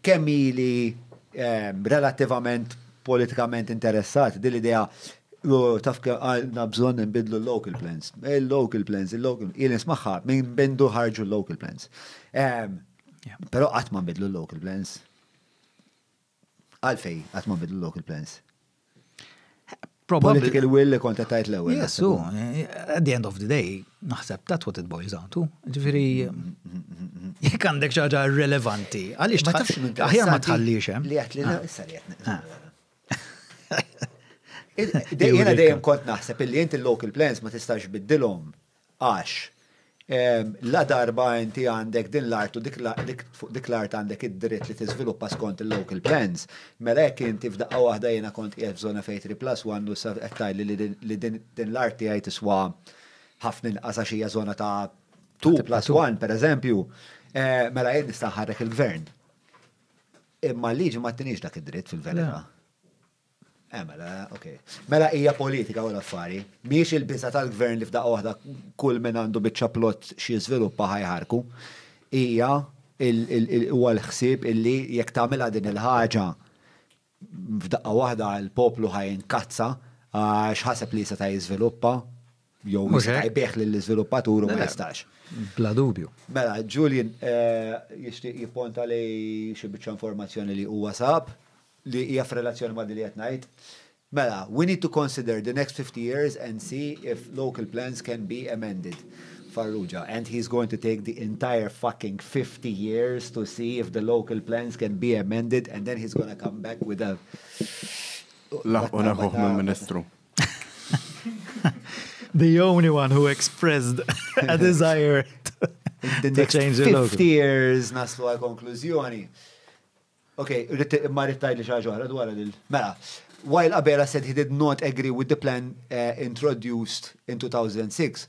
Kemm ili relattivament politikament interessat, din l-idea taf kemm għandna bżonn inbiddlu l-local plans. Il-local plans, il-local, ili nismagħha minn bindu ħarġu l-local plans. Però qatt ma nbidlu l-local plans. Għalfejn qatt ma nbidlu l-local plans? Political will li konta tajt l-ewwel. Yes, so, eh, at the end of the day, naħseb that's what it boils down to. Ġifieri jekk għandek xi ħaġa relevanti, għaliex ma tafx minn aħjar ma tħallix hemm. Eh? Li qed li ah. issa li qed. Ah. Jiena dejjem kont naħseb illi inti l-local plans ma tistax biddilhom Għax, ladarba inti għandek din l-art u fuq dik l-art għandek id-dritt li tiżviluppa skont il-local plans, mela jekk inti f'daqqa waħda jiena kont qiegħed f'żona fejn three plus one u issa qed tgħidli li din l-art tiegħi tiswa ħafna inqas għax hija żona ta' two plus one, pereżempju, mela jien nista' nħarrek il-Gvern. Imma l-liġi ma ttiniex dak id-dritt fil-verità. Eh, mela, ok. Mela hija politika u l-affari. Miex il-biża tal-gvern li f'daqqa waħda kull minn għandu biċċa plott xi żviluppa ħajħarku. Hija huwa l-ħsieb illi jekk tagħmilha din il-ħaġa f'daqqa waħda l-poplu ħajn kazza għax ħaseb li seta' jiżviluppa jew jista' jbigħ lill-iżviluppatur u ma jistax. Bla dubju. Mela, Julian jixtieq jipponta li xi biċċa informazzjoni li huwa sab li hija f'relazzjoni ma' dik li qed ngħid. Mela, we need to consider the next 50 years and see if local plans can be amended. Farrugia, and he is going to take the entire fucking 50 years to see if the local plans can be amended and then he is going to come back with a. Laħqu neħħuh mill-Ministru. The only one who expressed a desire to change the logo. 50 years naslu għal konklużjoni. Ok, ma rittajli xaġu għara dwar il Mela, while Abela said he did not agree with the plan uh, introduced in 2006,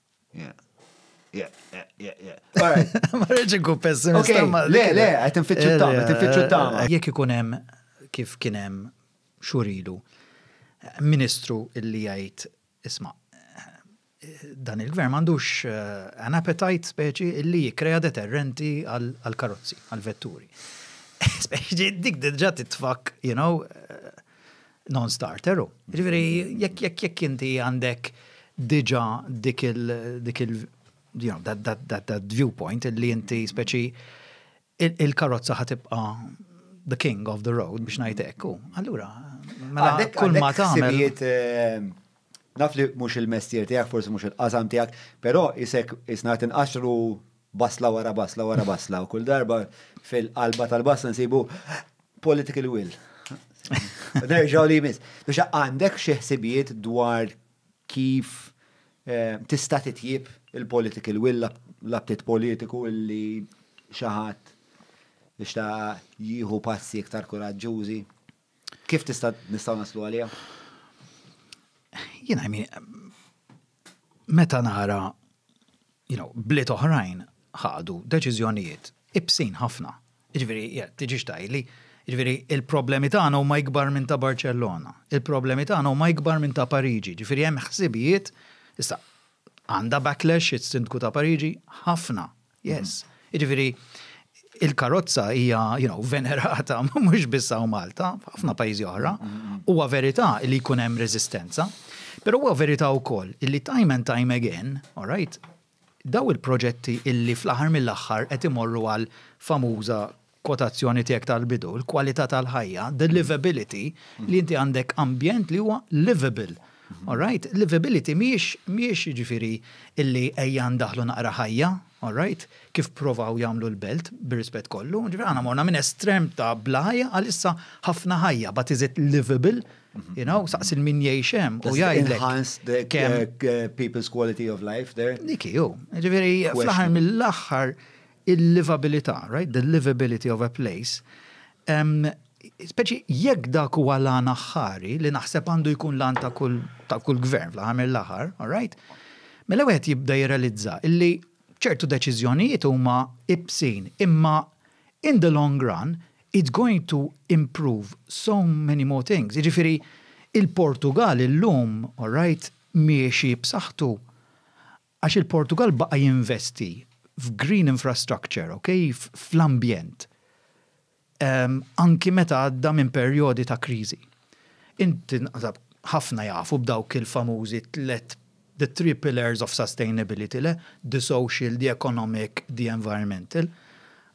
Ma rridx inkun pessimista. Le, le, qed infittxu eh, tama, qed infittxu eh, tama. Eh, jekk ikun hemm kif kien hemm xurilu ministru illi jgħid isma' dan il-gvern m'għandux an appetite speċi illi jikkrea deterrenti għal karozzi, għal vetturi. Speċi dik diġà titfak, you know, non-starter u. Ġifieri jekk jekk jekk inti għandek diġà dik il dik il you know, that, that, that, that viewpoint li inti speċi il-karozza ħatibqa the king of the road biex ngħid hekk u. Allura, mela kull ma tagħmel. Eh, naf li mhux il-mestier tiegħek, forsi mhux il-qasam tiegħek, però isek isna tinqaxru basla wara basla wara basla u kull darba fil-qalba tal-basla nsibu Political will. Nerġaw li jmiss. Biex għandek xi ħsibijiet dwar kif eh, tista' titjib il-political will l-aptit politiku li xaħat biex ta' jieħu passi iktar kuraġġużi. Kif tista' nistgħu naslu għalija? Jien għajmi, meta nara you know, bliet oħrajn ħadu deċiżjonijiet ibsin ħafna. Jiġifieri jekk tiġix tgħidli, jiġifieri il-problemi tagħna huma ikbar minn ta' Barċellona, il-problemi tagħna huma ikbar minn ta' Pariġi, jiġifieri hemm ħsibijiet, issa għandha backlash is-Sindku ta' Pariġi? Ħafna, yes. Jiġifieri il-karozza hija you know, venerata mhux biss hawn Malta, f'ħafna pajjiżi oħra, huwa verità li jkun hemm reżistenza, però huwa verità wkoll li time and time again, all right, daw il-proġetti illi fl-aħħar mill-aħħar qed imorru għal famuża quotazzjoni tiegħek tal-bidu, il-kwalità tal-ħajja, the livability, li inti għandek ambjent li huwa livable. All right? Livability mhijiex, mhijiex jiġifieri illi ejja ndaħħlu naqra ħajja, all right? Kif pprovaw jagħmlu l-Belt, bir-rispett kollu, ġifieri aħna morna minn estrem ta' bla ħajja għal issa ħafna ħajja, but is it livable? You know, saqsi min jgħix hemm u jgħidlek. Enhance the kemm people's quality of life there. Dik hi, ġifieri fl-aħħar mill-aħħar il-livabilità, right, the livability of a place, speċi jekk dak huwa l-għan aħħari li naħseb għandu jkun l-għan ta' kull ta' kull gvern fl-aħħar mill-aħħar, all right? Mela wieħed jibda jirrealizza illi ċertu deċiżjonijiet huma ibsin, imma in the long run it's going to improve so many more things. Jiġifieri il-Portugal illum, all right, miexi b'saħħtu Għax il-Portugall baqa' jinvesti f'green infrastructure, ok, fl-ambjent, anki meta għadda minn perjodi ta' kriżi. Int naħseb ħafna jafu b'dawk il-famużi tliet, the three pillars of sustainability, le? The social, the economic, the environmental.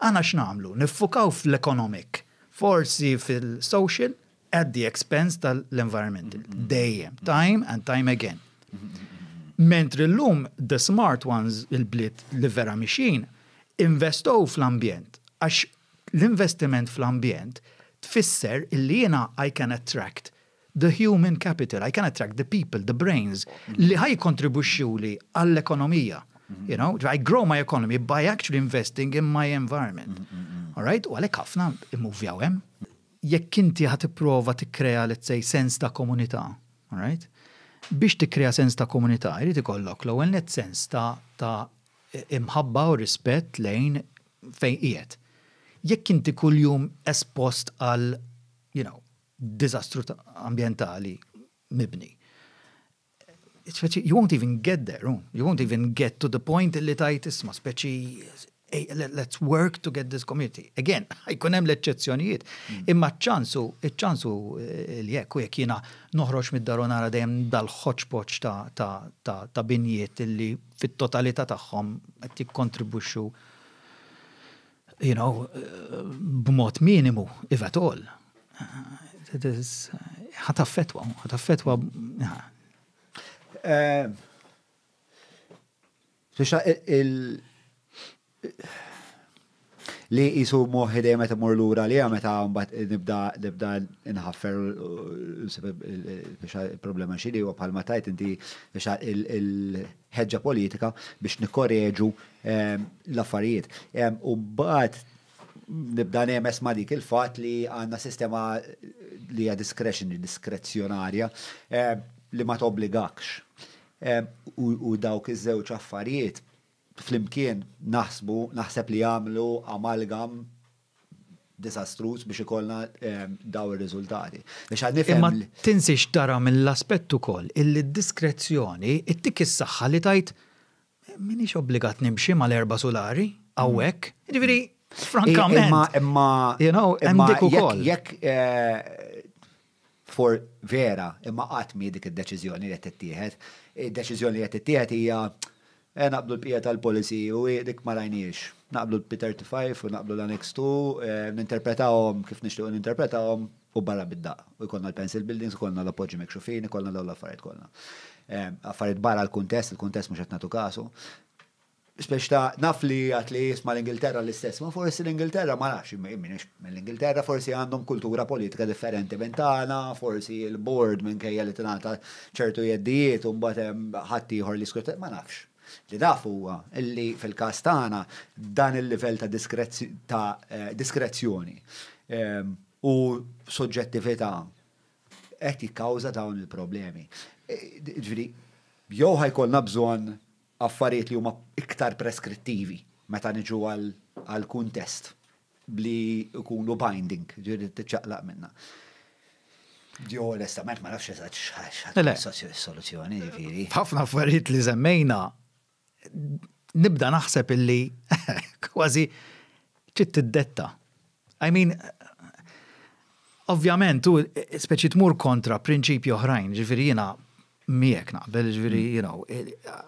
Aħna x'nagħmlu? Niffukaw fl-economic, forsi fil-social, at the expense tal-environmental. Dejjem, time and time again. Mentri l-lum, the smart ones, il-bliet li vera mixin, investow fl-ambjent. Għax l-investiment fl-ambjent tfisser illi jena I can attract the human capital, I can attract the people, the brains, li ħaj kontribuxxu li għall-ekonomija. You know, I grow my economy by actually investing in my environment. All right? U għalek ħafna immuvjaw hemm. Jekk inti ħa tipprova tikkrea let's say sens ta' komunità, all right? Biex tikkrea sens ta' komunità jrid ikollok l-ewwel nett sens ta' ta' imħabba u rispett lejn fejn qiegħed. Jekk inti kuljum espost għal you know diżastru ambjentali mibni, you won't even get there, oh. you won't even get to the point li tajt isma, speċi let's work to get this community. Again, jkun hemm l-eċċezzjonijiet, mm. imma ċansu, ċansu eh, li jekk u jekk jiena noħroġ mid-daru nara dejjem dal-ħoċpoċ ta' binjiet li fit-totalità tagħhom qed jikkontribwixxu You know, b'mod minimu, if at all. It is, ħataffetwa, ħataffetwa. Eh, Fixa il. Li jisu moħi dejjem meta mur lura li meta mbagħad nibda nibda nħaffer fixa il-problema xi li huwa bħalma tajt inti fixa il ħeġġa politika biex nikkoreġu ehm, l-affarijiet. Ehm, u mbagħad nibda nemes ma' dik il-fatt li għandna sistema li hija discretion, diskrezzjonarja ehm, li ma tobbligakx. U dawk iż-żewġ affarijiet flimkien naħsbu naħseb li jagħmlu amalgam diżastruż biex ikollna dawn ir-riżultati. Biex għad nifhem. Imma tinsiex tara mill-aspett ukoll illi d-diskrezzjoni ttik is-saħħa li tgħid m'iniex obbligat nimxi mal-erba' sulari hawnhekk. Jiġifieri, frankament. Imma, imma, imma dik ukoll. Jekk For, Vera, imma qatt mhi dik id-deċiżjoni li qed tittieħed. Id-deċiżjoni li qed tittieħed hija, eh, naqblu l-bqija tal-policy u hi dik ma rajnihiex. Naqblu l-P35 u naqblu l-Annex ii, eh, ninterpretawhom kif nixtiequ ninterpretawhom u barra bid-daqq. U jkollna l-pencil buildings, ikollna l-appoġġi mikxufin, ikollna dawn l-affarijiet kollha. Eh, affarijiet barra l-kuntest, il-kuntest mhux qed nagħtu kasu. Spiex ta' naf li għad li jisma' l-Ingilterra l-istess, ma forsi l-Ingilterra ma nafx, jien m'iniex mill-Ingilterra, forsi għandhom kultura politika differenti minn tagħna, forsi l-Board minkejja li tingħata ċertu jeddijiet u mbagħad hemm ħadd ieħor li jiskrutinja, ma nafx. Li naf huwa li fil-każ tagħna dan il-livell ta' ta' diskrezzjoni u soġġettività qed jikkawża dawn il-problemi. Jiġifieri jew ħa jkollna bżonn affarijiet li huma iktar preskrittivi meta niġu għall-kuntest li jkunu binding, ġiri tiċċaqlaq minna. Ġi onestament ma nafx eżatt x'ħadd soluzzjoni ġifieri. Ħafna affarijiet li żemmejna nibda naħseb illi kważi ċitt tiddetta. I mean, ovvjament, tu speċi tmur kontra prinċipju oħrajn, ġifiri jina miek naqbel, ġifiri, mm. you know,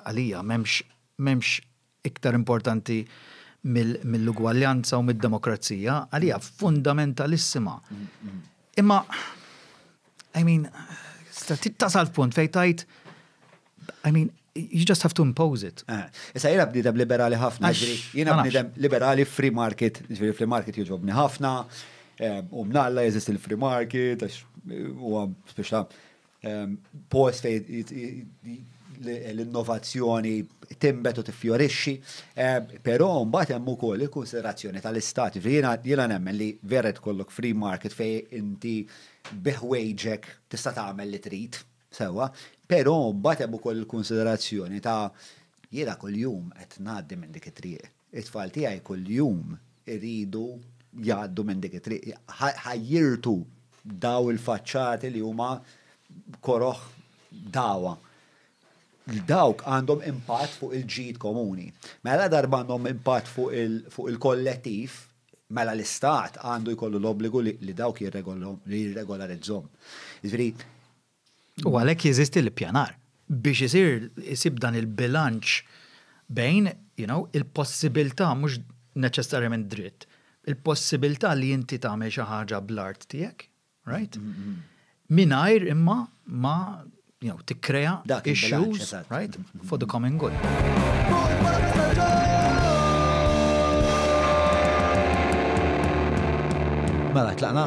għalija memx, memx iktar importanti mill-ugwaljanza u mid-demokrazija, għalija mm. fundamentalissima. Mm, Imma, I mean, tasal punt fejtajt, I mean, you just have to impose it. Eh, issa jena bnidem liberali ħafna, jena bnidem liberali free market, ġviri free market jġobni ħafna, eh, u mnalla jeżist il-free market, għax eh, u għam speċa post fej l-innovazzjoni timbet u tiffjorixxi, però mbagħad hemm ukoll il-konsiderazzjoni tal-istat. Jiena nemmen li veret kollok free market fej inti biħwejġek tista' tagħmel li trid Sewwa, però mbagħad hemm ukoll il-kunsiderazzjoni ta' jiena kuljum qed ngħaddi minn dik it-triq. It-tfal tiegħi kuljum iridu jgħaddu minn dik it-triq. Ħajjirtu dawn il-faċċati li huma koroh dagħwa. Dawk għandhom impatt fuq il-ġid komuni. Mela ladarba għandhom impatt fuq il-kollettiv, mela l-Istat għandu jkollu l-obbligu li dawk jirregolarizzhom. Jiġifieri, U għalhekk jeżisti l-ippjanar biex isir isib dan il-bilanċ bejn, you know, il-possibilità mhux neċessarjament dritt, il-possibilità li inti tagħmel xi ħaġa bl-art tiegħek, Right? Mingħajr imma ma jew tikkrea issues, right? For the common good. Mela, tlaqna.